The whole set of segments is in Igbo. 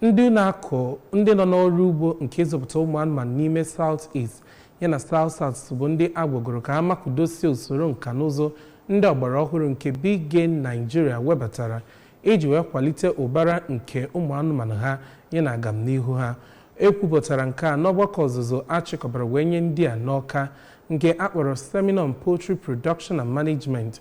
Ndị na-akụ ndị nọ n'ọrụ ugbo nke ịzụpụta ụmụ anụmanụ n'ime South East yana South South bụ ndị a gwagoro ka ha makudosie usoro nka na ụzụ ndị ọgbara ọhụrụ nke Bige Nigeria webatara iji wee kwalite ụbara nke ụmụ anụmanụ ha yana agamnihu ha. E kwupụtara nke a n'ọgbakọ ọzụzụ a chịkọbara wee nye ndị a n'Awka nke a kpọrọ Seminar on Poultry Production and Management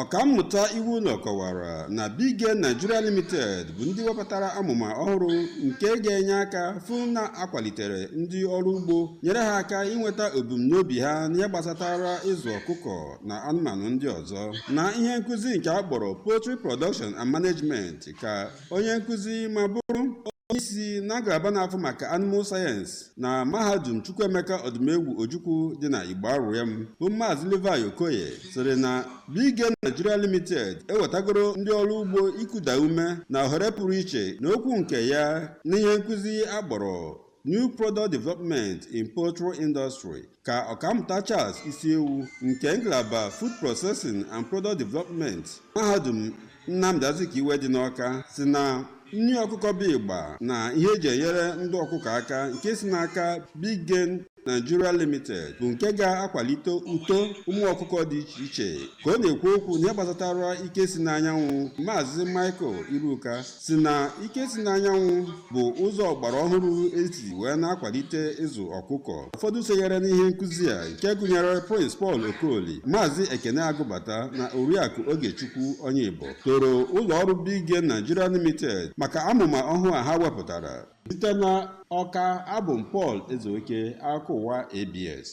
ọkammụta Iwuno kọwara na Bige Nigeria Limited bụ ndị wepụtara amụma ọhụrụ nke ga-enye aka fụ na a kwalitere ndị ọrụ ugbo nyere ha aka inweta ebumnobi ha n'ihe gbasatara ịzụ ọkụkọ na anụmanụ ndị ọzọ n'ihe nkụzi nke a kpọrọ Poultry Production and Management ka onye nkụzi ma bụrụ onye isi na ngalaba na-afụ maka Animal Science na mahadum chukwuemeka Odumegwu ojukwu dị na Igbariam bụ maazị levi okoye sịrị na bige nigeria limited ewetagoro ndị ọrụ ugbo ikuda ume na ohere pụrụ iche n'okwu nke ya n'ihe nkụzi a kpọrọ New Product Development in Poultry Industry ka ọkammụta Charles Ishiwu nke ngalaba Food Processing and Product Development mahadum Nnamdi Azikiwe dị n'Ọka sị na nri ọkụkọ bụ ịgba na ihe e ji enyere ndụ ọkụkọ aka nke si n'aka Bige Nigeria Limited bụ nke ga-akwalite uto ụmụ ọkụkọ dị iche iche ka ọ na-ekwu okwu n'ihe gbasatara ike si n'anyanwụ Maazị Michael Iruka sị na ike si n'anyanwụ bụ ụzọ ọgbara ọhụrụ e si wee na-akwalite ịzụ ọkụkọ ụfọdụ sonyere n'ihe nkụzi a nke gụnyere Prince Paul Okoli Maazị Ekene Agụbata na Oriakụ Ogechukwu Onyeibo toro ụlọ ọrụ Bige Nigeria Limited maka amụma ọhụụ a ha wepụtara site na Ọka abụ m Paul Ezeoke akụkọ ụwa ABS